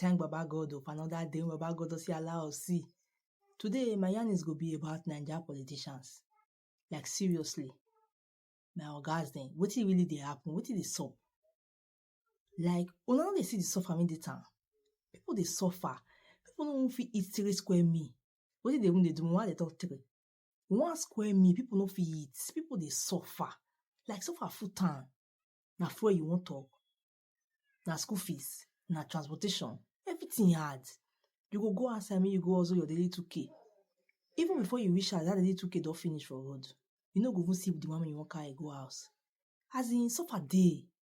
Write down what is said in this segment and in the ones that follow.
thank baba god o for another day wey baba god don still allow us see today my yarn is go be about naija politicians like seriously my ogas dem wetin really dey happen wetin dey sup like una no dey see the suffer wey dey town people dey suffer people no even fit eat three square meal wetin dey even dey do me why i dey talk three one square meal people no fit eat people dey suffer like suffer full town na fuel you wan talk na school fees na transportation everything hard you go go outside make you go hustle your daily 2k even before you reach house that daily 2k don finish for road you no go even see the one wey you wan carry go house as in suffer dey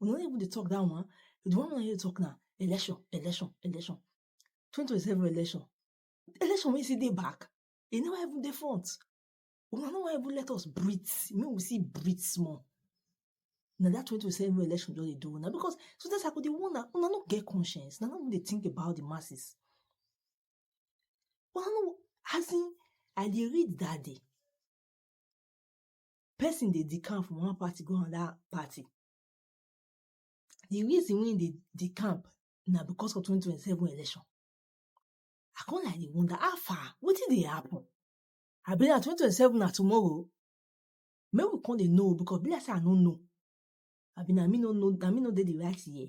we no even dey talk that one the one wey you talk now election election election 2027 election election wey still dey back e never even dey front una no wan even let us breathe make we see breathe small na that 2027 election just dey do una because sometimes i go dey wonder una no get conscience na no dey think about the masses una no as in i dey read that day person dey decamp from one party go another party. The reason wey e dey decamp na because of twenty twenty seven election. I come like dey wonder how far wetin dey happen? Abi na twenty twenty seven na tomorrow? Make we come dey know because e be like sey I no know. Abi na me no know na me no dey the right year?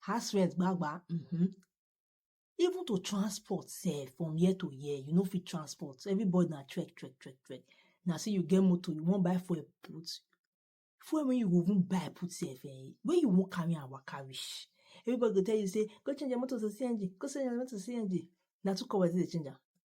house rent gbagba um even to transport sef from year to year you no fit transport everybody na trek trek trek trek na say you get motor you wan buy fuel put fuel wey you go even buy put sef um wey you wan carry am waka reach everybody go tell you say go change your motor to CNG go change your motor to CNG na two kobo you take dey change am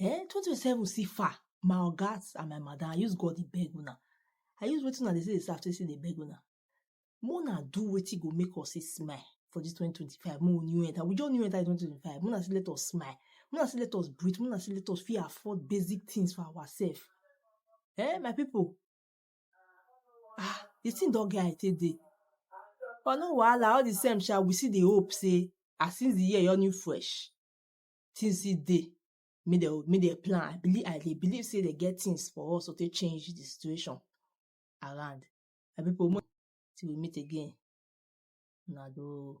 eh 2027 see far my ogas and my madam i use god dey beg una i use wetin una dey say dey serve take say dey beg una make una do wetin go make us see smile for this 2025 make we new enter we just new enter 2025 make una see let us smile make una see let us breathe make una see let us fit afford basic things for ourselves eh my people ah the thing don get how e take dey but no wahala all the same sha we still dey hope say as since the year your new fresh things still dey make dem make dem plan I believe I dey believe sey dem get things for us to take change the situation around my people make we meet again una doh.